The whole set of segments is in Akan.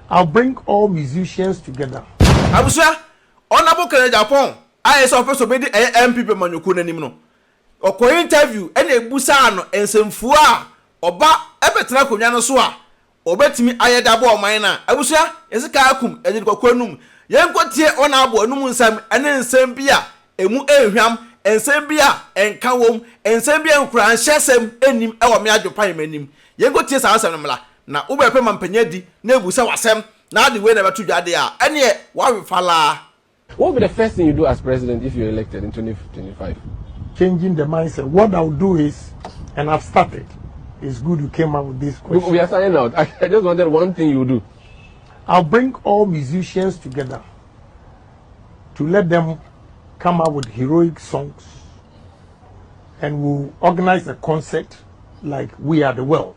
I'll bring all musicians together. Abusua, Honourable Kenneth Ampong a ɛsɛ ɔpɛ sɛ ɔbɛdi ɛyɛ NPP amanyɔkuo no anim no, ɔkɔɔ interview ɛna ɛbusaa no nsɛmfua a ɔba ɛbɛtena akonnwa no so a ɔbɛtumi ayɛ de aboa ɔman no a. Abusua, yɛse kaa akum, yɛde kɔkɔ anum. Yɛnkɔ tie Honourable anum nsɛm ɛne nsɛm bi a ɛmu nhwam, nsɛm bi a nka wɔ mu, nsɛm bi a nkuranhyɛsɛm nnim ɛwɔ me adwopan m'anim. Yɛnkɔ tie saa nsɛm no mmra. na wobɛpɛ ma mpanyin adi na abisa wo asɛm na ade wei na ɛbɛto dwa de a, ɛneɛ woawe falaa. What will be the first thing you do as president if you're elected in 2025? Changing the mindset. What I will do is, and I've started, it's good you came up with this question. We are signing out. I, I just wanted one thing you do. I'll bring all musicians together to let them come up with heroic songs and we'll organize a concert like We Are the World.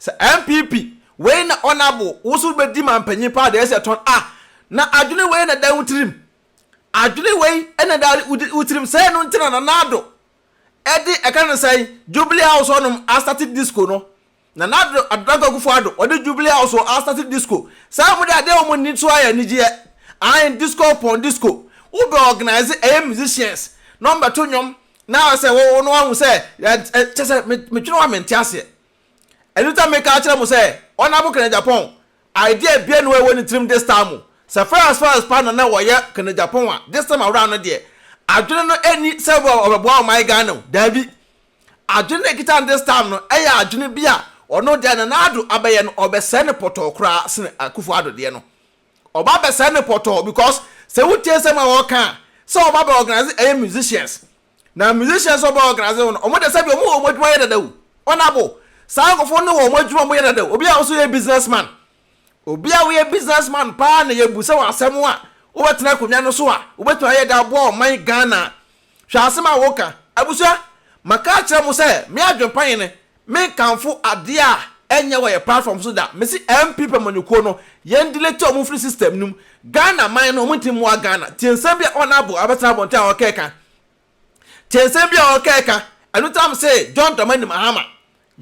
Sɛ NPP wei na Honourable wo nso wobɛdi mampanyin paa deɛ ɛsɛ tɔn ah na adwene wei na ɛda wo tirim adwene wei na ɛda wo tirim sɛ ɛno nti na Nana Addo ɛde ɛka no sɛn Jubilee House hɔnom astate disco no Nana Addo Adodankwa Akufo Addo ɔde Jubilee House hɔ astate disco saa wɔn de adeɛ wɔn ani so ayɛ anigyeɛ ahen disco upon disco wobɛ organise ɛyɛ musicians na wɔn bɛto nnwom na sɛ wɔn wɔn ahu sɛ kyɛ sɛ metwene wa mente aseɛ. Ɛno nti na meka akyerɛ mo sɛ, Ɔnabɔ Kanagyapɔn, idea biara nni hɔ a ɛwɔ ne tirim this time. Sɛ Ferrans Ferrans paa na na ɔyɛ Kanagyapɔn a, this time around no deɛ, adwene no nni sɛ ɔbɛboa ɔman Ghana o, daabi. Adwene no a ɛkita no this time no yɛ adwene bi a ɔno deɛ a Nana Addo abɛyɛ no, ɔbɛsɛe no pɔtɔɔ koraa sene Akuffo Addo deɛ no. ɔba bɛ sɛɛ no pɔtɔɔ because sɛ wo tie nsɛm a ɔɔka a sɛ ɔba bɛ organise ɛyɛ musicians na musicians a ɔbɛ organise wɔn no ɔmo de sɛbi ɔmo wɔ ɔmo adwuma yɛ dada o ɔnabo saa nkɔfoɔ no wɔ ɔmo adwuma ɔmo yɛ dada o obi a ɔso yɛ business man obi a woyɛ business man paa na yɛ bu sɛ wɔ asɛm a wo bɛ tena akonwa no so a wo bɛ tuma yɛ de aboa ɔman Ghana hwɛ asɛm a wo ka abusua maka akyerɛ mo sɛ me adwen pa yɛ ne Menkamfo adeɛ a ɛnyɛ wɔ yɛ platform so da. Mese MP pamanyɔkuo no yɛn delete wɔn mfiri system no mu. Ghana man no wɔn nti mmoa Ghana. Tie nsɛm bi a Honourable abɛsena abɔnten a ɔkɛka. Tie nsɛm bi a ɔkɛka. Ɛno nti na mese John Dramani Mahama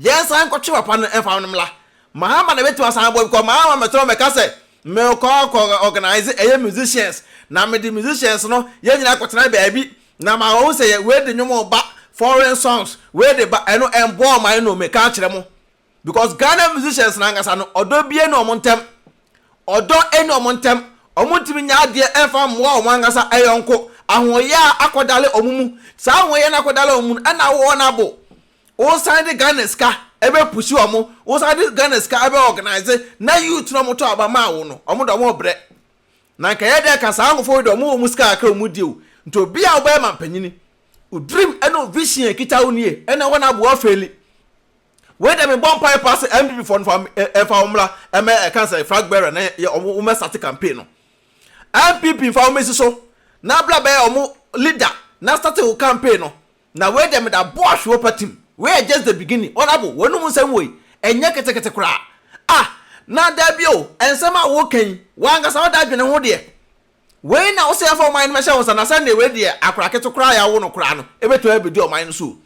yɛn nsan nkɔtwe papa no mfa no mmra. Mahama na ɛbɛtumi asan aboa because Mahama mɛtena hɔ mɛka sɛ mekɔ akɔ organise ɛyɛ musicians na mede musicians no yɛn nyinaa akɔtena baabi Na ma wɔn hu sɛ yɛ wei de nnwom reba, foreign songs, wei de ba, ɛno ɛmboa wɔn I know, meka akyerɛ mo. Because Ghana musicians no ankasa no, ɔdɔ bie nni wɔn ntɛm. Ɔdɔ nni wɔn ntɛm. Wɔn ntumi nyɛ adeɛ ɛmfa mmoa wɔn ankasa ɛyɔnko. Ahoɔyaa akɔdale wɔn mu. Saa ahoɔyaa no akɔdale wɔn mu no, ɛna wo wɔn abo. Wo san de Ghana sika ɛbɛ pushi wɔn, wo san de Ghana sika ɛbɛ organise, na youth no a wɔtɔ aba maa wo no, wɔn de wɔn rebrɛ. na nka yɛyɛ dɛn ka saa nkofo yi dɛ ɔmo wɔ ɔmo sika kakra a ɔmo di o, nti obi a ɔbɛyɛ mampanyini, wo dream na wo vision a ɛkita wo nie, ɛna ɛhɔ na aboa feli. Wei dɛ me bɔ mpae paa sɛ NPP foɔ no fa ɛnfa wɔn mmra ɛmɛ ɛka sɛ flag bearer na yɛ ɔmo wɔn ɛsate campaign no. NPP nfa wɔn mmɛsi so na bra bɛyɛ ɔmo leader na sate wo campaign no. Na wei deɛ meda boa hwe wopa tim wei yɛ just the beginning honourable wanum nsɛm woi ɛnyɛ ketekete koraa ah na daabi o ɛnsɛm a woka yi wankasa woda adwene ho deɛ wei na wosɛ yɛfa ɔman no bɛhyɛ wo nsa na sɛndeɛ wei deɛ akora kete koraa yɛawo no koraa no ɛbɛtumi abɛdi ɔman no so o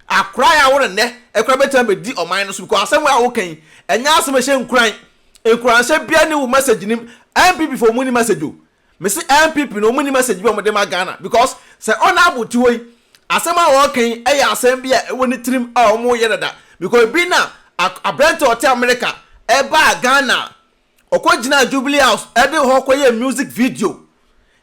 akora yɛawo no nnɛ ɛkora bɛtumi abɛdi ɔman no so because asɛm wei a woka yi ɛnyɛ asɛm ɛhyɛ nkuran nkuranhyɛ bia ne wo message nim npp fo ɔmu ni message o Me se NPP no ɔmo nni message bi a ɔmo de ma Ghana because sɛ Honourable te hɔ yi asɛm a ɔɔka yi ɛyɛ asɛm bi a ɛwɔ ne tirim a ɔmo yɛ dada because ebi na aberante a ɔte America ɛbaa Ghana a ɔkɔ gyinaa Jubilee House ɛde hɔ kɔ yɛɛ music video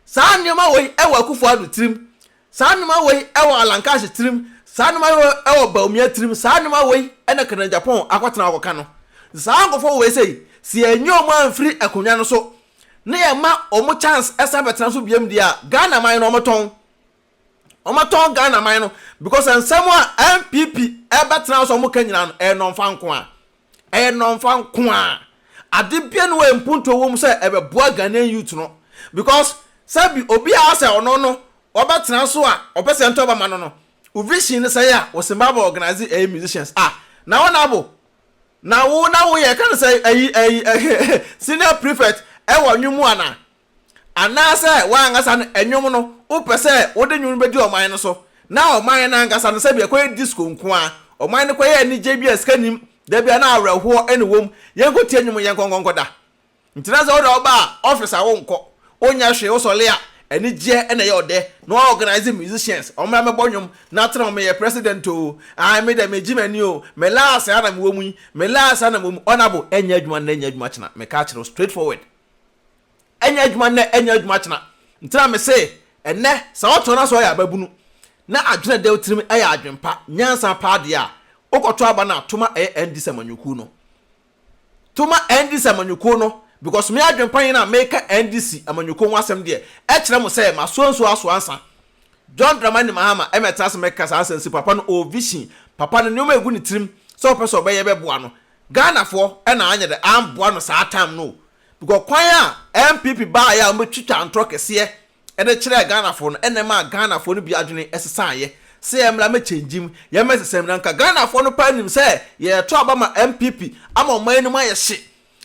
saa nneɛma wei ɛwɔ Akufo Addo tirim saa nneɛma wei ɛwɔ Alan Cash tirim saa nneɛma wei ɛwɔ Bawumia tirim saa nneɛma wei ɛna Kenneth Agyapong akɔtena hɔ akɔka no saa nkorɔfoɔ wei sei sɛ yɛnyi ɔmo amfiri akonnwa no so na yɛma wɔn chance ɛsan bɛtena so biam deɛ a, Ghana man no wɔtɔn. Wɔtɔn Ghana man no because nsɛm a NPP ɛbɛtena hɔ sɛ wɔka nyinaa no ɛyɛ nnɔmfa nko ara. Ɛyɛ nnɔmfa nko ara. Ade bia no wɔ mpuntuo wɔ mu sɛ ɛbɛboa Ghanaian youth no because sɛbi obi a ɔsɛ ɔno no ɔbɛtena so a ɔpɛ sɛ ɛntɔ bɛma no no, wo vision no sɛe a, wo Simba bɛ organise ɛyɛ musicians a, na wɔn abo Na wo na woyɛ yɛka no sɛ ayi ayi senior prefect wɔ nnwom mu ana? Anaasɛ w'ankasa no nnwom no wopɛ sɛ wode nnwom no bɛdi ɔman no so? Na ɔman no ankasa no sɛbi ɛkɔyɛ disco nko ara, ɔman no kɔyɛ anigyeɛ bi a sika nnim, da biara na awerɛhoɔ na ɛwɔ mu, yɛnkɔtie nnwom yɛnkɔ nkɔnkɔda. Ntsi na dza ɔda wo ba a, office a wonnkɔ, wonnyɛ hwee, wosɔle a, anigyeɛ na ɛyɛ ɔdɛ, na woaorganise musicians, wɔmbra mbɛbɔ nwom, na atsena hɔ, meyɛ president oo, ae me dɛ megye m'ani oo, me last ha na mowɔ mu yi, me last ha na mowɔ mu, honourable, ɛnyɛ adwuma nnɛ nyɛ adwuma kyena, meka akyerɛ wo straight forward, ɛnyɛ adwuma nnɛ ɛnyɛ adwuma kyena, ntsi na mese ɛnnɛ sɛ ɔtɔ na sɛ ɔyɛ ababunu, na adwen a ɛda wo tsirim yɛ adwen pa, nyansa paa deɛ a, wokɔto aba no ato ma ɛyɛ NDC amanyɔkuo no. to ma NDC amanyɔkuo no because me adwenpa yi na meka NDC amanyɔkuo ho asɛm deɛ ɛkyerɛ mo sɛ masoa nsuo asoa nsa John Dramani Mahama ɛma ɛtena ase mɛka saa asɛnsi papa no ɔwɔ vision papa no nneɛma ɛgu ne tirim sɛ ɔpɛ sɛ ɔbɛyɛ bɛboa no Ghanafoɔ ɛna anyɛ dɛ amboa no saa time no o because kwan a NPP baeɛ a wɔbɛtwitwa ntorɔ kɛseɛ de kyerɛɛ Ghanafoɔ no na ɛmaa Ghanafoɔ no bi adwene sesaeɛ sɛ yɛn mmra mmɛkyɛngye mu, yɛmmɛ nsesa mu. Na anka Ghanafoɔ no paa nim sɛ yɛreto aba ma NPP ama ɔman anim ayɛ hye,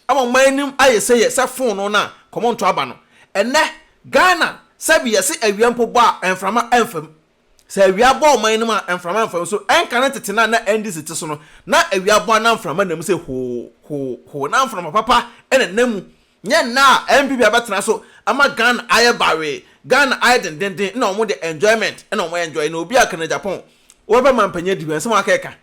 ama ɔman anim ayɛ sɛ yɛ sɛ fonoo no a kɔmɔnto aba no. Ɛnnɛ Ghana sɛbi yɛse awia mpo bɔ a mframa mfa mu. Sɛ awia bɔ ɔman no mu a, mframa mfa mu. So ɛnka ne tete no a na NDC te so no, na awia bɔ a na mframa nna mu sɛ hoo, hoo, hoo. Na mframa papa na ɛnna mu. Nyɛ nnɛ a NPP abɛtena so ama Ghana ayɛ bawee, Ghana ayɛ dendenden, nna wɔn deɛ enjoyment na wɔn enjoy. Na obi a ɔka no Japan, wobɛpɛ mampanyin adi hɔ, ɛnsɛm a ɔkeka.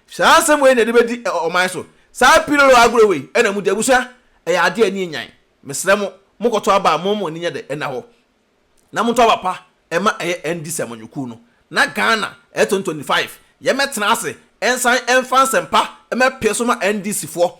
Saa nsɛm wei na yɛde bɛdi ɔman so. Saa pilolo agorɔ wei na mudi. Abusua, ɛyɛ adeɛ a ani yɛ nyan. Mesrɛ mo, mokɔtɔ aba a, momma mo ani nyɛ dɛ nna hɔ. na moto aba pa ma ɛyɛ NDC amanyɔkuo no na Ghana ɛyɛ 2025 yɛ mɛtena ase nsan mfa nsɛm pa mɛpee so ma NDC foɔ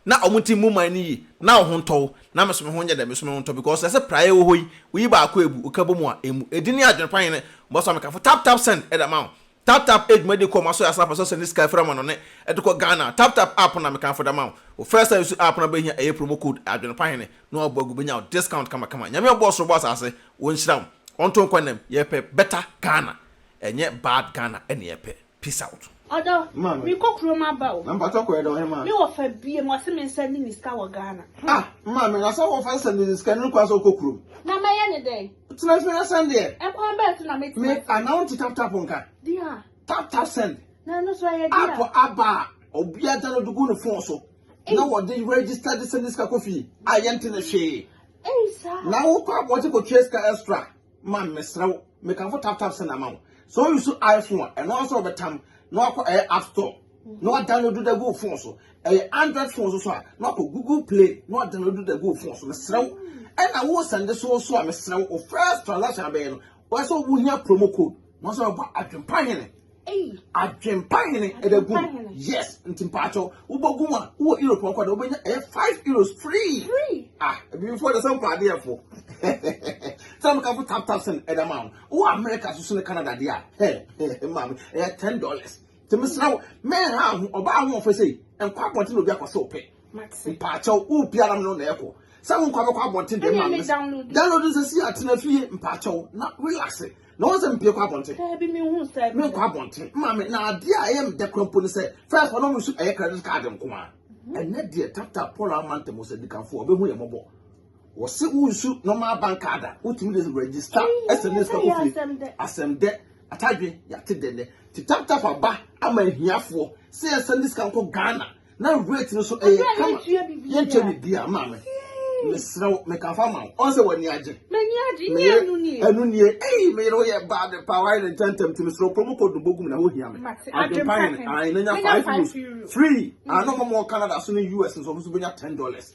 na ɔmo nti mmu man no yie na ɔho ntɔ wo na meso meho nyɛ dɛ meso meho ntɔ because ɛsɛ praeɛ wɔ hɔ yi woyi baako ɛbu woka bɔ mu a ɛmu ɛdini adwene pa hene bɔsɔ mekafo tap tap send ɛda ma wo Tap tap edwuma yi de kɔ ɔmo asɔre ase na afasɔre sɛn ne sika efiri amano ne ɛde kɔ Ghana tap tap app na mekanfo de ama wo wo first time su app na bɛhia ɛyɛ promo code adwene pa hene na wabɔ agu bɛnya wo discount kama kama Nyame a ɔbɔɔ soro bɔɔ asase ɔnhyira wo ɔnto nkwa nnam yɛpɛ better Ghana ɛnyɛ bad Ghana ɛne yɛpɛ peace out. Ɔdɔ, merekɔ kurom aba o. Me wɔfa biem, ɔse mensan nni ne sika wɔ Ghana. Ah! Maame, na sɛ wɔfa sɛ mede sika no rekɔ a sɛ wokɔ kurom? Na mɛyɛ ne dɛn? Tena ase na send deɛ. Ɛkwan bɛyɛ so na me tena. Me ana wo nti tap tap nka. Dia. Tap tap send. Na ɛno so ɛyɛ dia. App aba a obi agya no de gu ne phone so. Na wɔde register de send sika kɔ fie a yɛnte ne hwee. Ɛyi saa. Na wokɔ abɔnten kɔ tua sika extra ma mesrɛ wo mekamfo tap tap send ama wo. So you so iPhone a ɛno ara sɛ wɔbɛtam na wakɔ ɛyɛ app store. na wadownload da gu wo phone so ɛyɛ android phone so so a na wakɔ google play na wadownload da gu wo phone so mesrɛ wo ɛna wo sɛnde so so a mesrɛ wo first transaction abɛyɛ no wɔyɛ sɛ wohia promo code na wɔsɛ wɔbɔ adwempa hene adwempa hene ɛda gu yes nti mpaakyɛw wobɔ gu mu a wowɔ europe ɔkɔ da wobɛnya ɛyɛ five euros free ah ebifoɔ de sɛ mpa adeɛ fo sɛ meka fo tap tap sɛn ɛda ma wo wowɔ america so so ne canada deɛ a ɛ ɛ maame ɛyɛ ten dollars Nti mesrɛ wo, menha ho ɔbaa ahoɔfɛ sei, nkɔ abɔnten na obi akɔ sɛ ɔpɛ. Mpaakyɛw, wopia na me no na ɛkɔ. Sɛ wo nkɔ abɛkɔ abɔnten deɛ ma me. Download nsɛ si atena fie mpaakyɛw na relax. Na wɔn sɛ mpie kɔ abɔnten. Daabi me hu sɛ. Me nkɔ abɔnten. Ma me na adeɛ a ɛyɛ me dɛ kora mpo ne sɛ first wɔn nso ɛyɛ credit card nko a. Mhm. Ɛnɛ deɛ tap tap Paul Amantemu sɛ dikanfoɔ ɔbɛhu yɛ mɔbɔ. Wɔse wo nsu normal bank card a wotumi de register ɛsɛ ne sika kofie asɛm dɛ atadwe yɛate dɛ nɛ ti tap tap aba ama ahiafoɔ sɛ yɛnsa ne sika nkɔ Ghana na rate no so ɛyɛ kama yɛntua bibia maame mesrɛ wo meka fa ma wo ɔn sɛ w'ani agye meyɛ ɛno nie ei meyere wo yɛ baa de paa wayɛ ne ntɛntɛm ti mesrɛ wo promo code no bɔgu mu na wohia me adwempa hene ae na nya 5 euros free ano mɔmɔ Canada so ne US nso ɔmo nso bɛnya 10 dollars